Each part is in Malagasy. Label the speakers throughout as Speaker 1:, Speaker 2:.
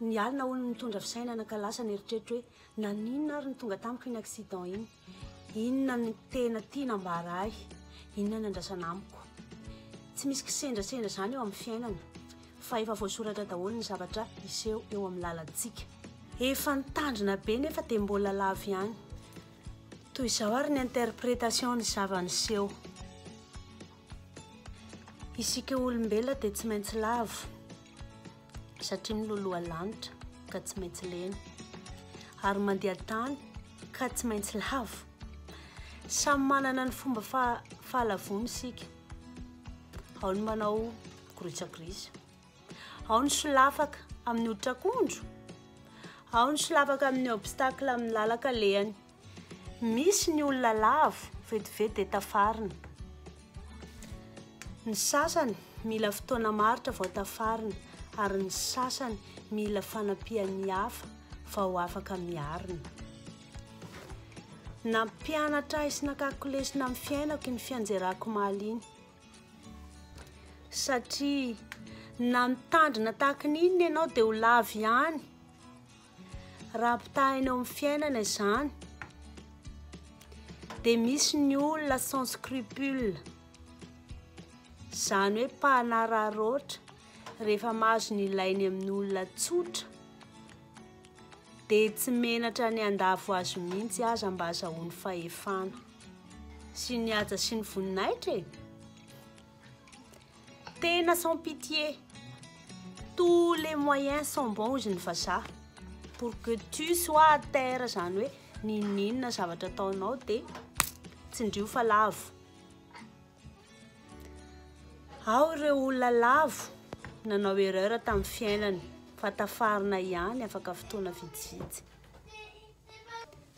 Speaker 1: Ny alina hono no nitondra fisainana ka lasa ny eritreritro hoe naninona ary ny tonga tamiko iny accident iny. Inona ny tena tiana ambara ahy? Inona ny andrasana amiko? Tsy misy kisendrasendra izany eo amin'ny fiainana fa efa voasoratra daholo ny zavatra hiseho eo amin'ny lalantsika. Efa nitandrina be nefa dia mbola lavo ihany. Toy izao ary ny interprétation ny zava-niseho. Isika olombelona dia tsy maintsy lavo satria miloloha lanitra ka tsy maintsy lena ary mandeha tany ka tsy maintsy lavo. Samy manana ny fomba fahalavony isika. Ao ny manao grisa-grisa, ao ny solafaka amin'ny hoditra akondro, ao ny solafaka amin'ny obstacle amin'ny lalan-kalehany. Misy ny olona lavo, vetivety dia tafarina. Ny sasany mila fotoana maharitra vao tafarina, ary ny sasany mila fanampian'ny hafa vao afaka miarina. Nampianatra ahy sy nakako lesona amin'ny fiainako iny fianjerako omaly iny. Satria na mitandrina tahaka ny inona ianao dia ho lavo ihany. Raha ampitahaina eo amin'ny fiainana izany dia misy ny olona sans scrupule, izany hoe mpanararaotra rehefa mahazo ny ilainy amin'ny olona tsotra dia tsy menatra ny handavo azy mihitsy aza mba azahoany fahefana sy ny haja sy ny voninahitra e. Tena sans pitié, tous les moyens sont bons hozy ny vazaha, pour que tu sois à terre zany hoe n'inon'inona zavatra ataonao de tsindrio fa lavo. Ao ireo olona lavo nanao erreur tamin'ny fiainany fa tafarina ihany afaka fotoana vitsivitsy.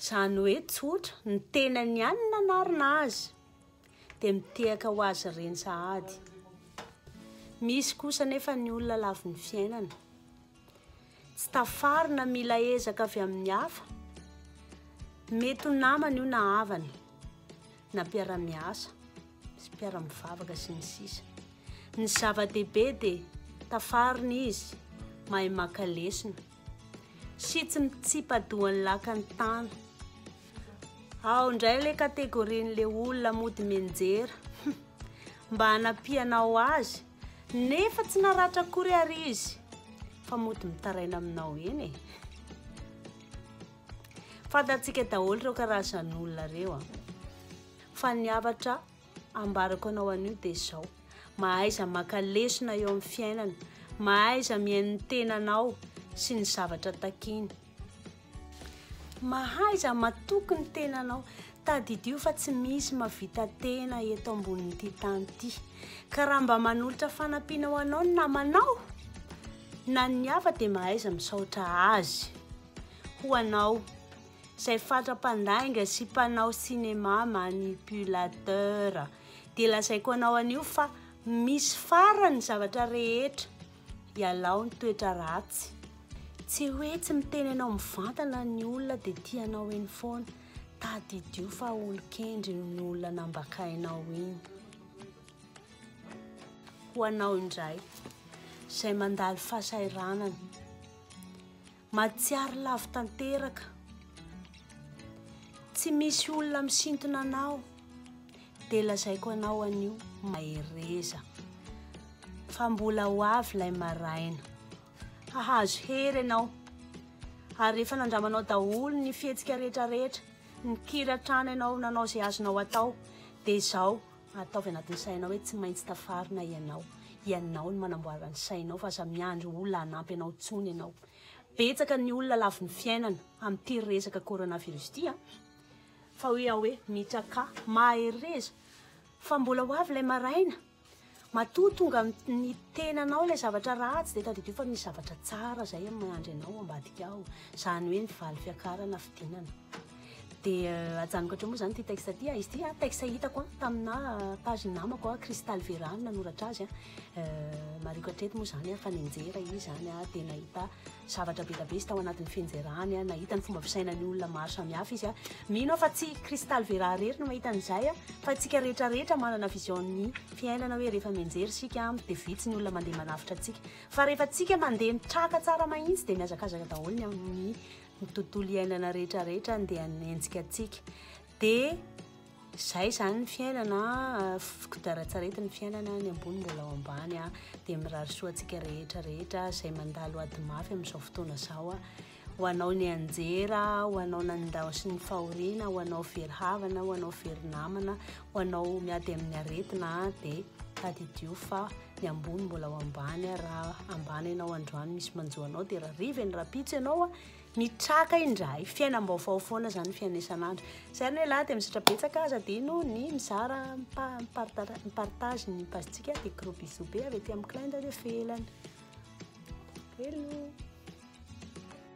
Speaker 1: Zany hoe tsotra, ny tenany ihany no nanarina azy. dia mitehaka ho azy ireny sahady. Misy kosa nefa ny olona lavin'ny fiainana. Tsy tafarina mila ezaka avy amin'ny hafa. Mety ho namana io na havana, na mpiara-miasa, sy mpiara-mivavaka sy ny sisa. Ny zava-dehibe dia tafarina izy, mahay maka lesona. Shit tsy mitsipa-doha ny lakan'ny tany. Ao ndray le kategorian'le olona mody mianjera. Mba hanampianao azy nefa tsy naratra akory ary izy fa mody mitaraina aminao eny e. Fantantsika daholo ireo karazan'olona ireo a. Fa ny hafatra ambarako anao anio dia izao, mahaiza maka lesona eo amin'ny fiainana, mahaiza mihaino ny tenanao sy ny zavatra takiany, mahaiza matoky ny tenanao, tadidio fa tsy misy mahavita tena eto ambonin'ity tany ity, ka raha mba manolotra fanampiana ho anao ny namanao, na ny hafa dia mahaiza misaotra azy ho anao. izay fatra-pandainga sy mpanao cinéma manipulateur dia lazaiko anao anio fa misy farany ny zavatra rehetra ialao ny toetra ratsy tsy hoe tsy miteny anao mivantana ny olona dia tianao eny foana tadidio fa olon-kendry ny olona nambakainao iny ho anao indray izay mandalo fahasahiranana Mahatsiaro lavo tanteraka. Tsy misy olona misintona anao. Dia lazaiko anao anio, mahereza. Fa mbola ho avy ilay maraina. Hahazo hery ianao. Ary rehefa nandramanao daholo ny fihetsika rehetrarehetra, nikiratrana ianao, nanao izay azonao atao, dia izao, Ataovy anatin'ny sainao hoe tsy maintsy tafarina ianao. Ianao no manamboara ny sainao fa aza miandry olona hanampy anao intsony ianao. Betsaka ny olona lavin'ny fiainana amin'ity resaka coronavirus ity an! Fa hoe aho hoe Mitra Ka, mahereza fa mbola ho avy ilay maraina. Matoa tonga amin'ny tenanao ilay zavatra ratsy dia tadidio fa misy zavatra tsara izay miandry anao ambadika ao. Izany hoe ny valy fiakarana fidinana. dia euh, ajanoko hatreo moa zany ity texte ity ah, izy ity ah, texte hitako ah, tamina page namako a cristal verano nanoratra azy a euh, mariko hatreto moa zany a fa nenjera izy zany a dia nahita zavatra be da be izy tao anatin'ny fenjerany a nahita ny fomba fisainan'ny olona maro samihafa izy a mino aho fa tsy cristal vera rery no mahita an'izay a fa tsika rehetra rehetra manana vision'ny fiainana hoe rehefa menjery sika a dia vitsy ny olona mandeha manafitra antsika fa rehefa tsika mandeha mitraka tsara mahitsy dia mihazakazaka daholo ny amin'ny ny tontolo iainana rehetra rehetra ny dia nenjika antsika dia izay izany ny fiainana fikodaratsaretin' ny fiainana ny ambony mbola ao ambany a dia mirary soa antsika rehetra rehetra izay mandalo ady mafy amin'izao fotoana izao a ho anao ny anjera ho anao nanindao sy ny fahoriana ho anao very havana ho anao very namana Ho anao miady amin'ny aretina dia tadidio fa ny ambony mbola ho ambany raha ambany ianao androany misy manjo anao dia raha riva ny rapitso ianao a mitraka indray fiainam-baovao foana izany fianesan'andro zay ny lehilahy dia misaotra betsaka aza dino ny mizara mipartage ny pazintsika dia gros bisous be avy aty amin'ny clin d'oeil ivelany hello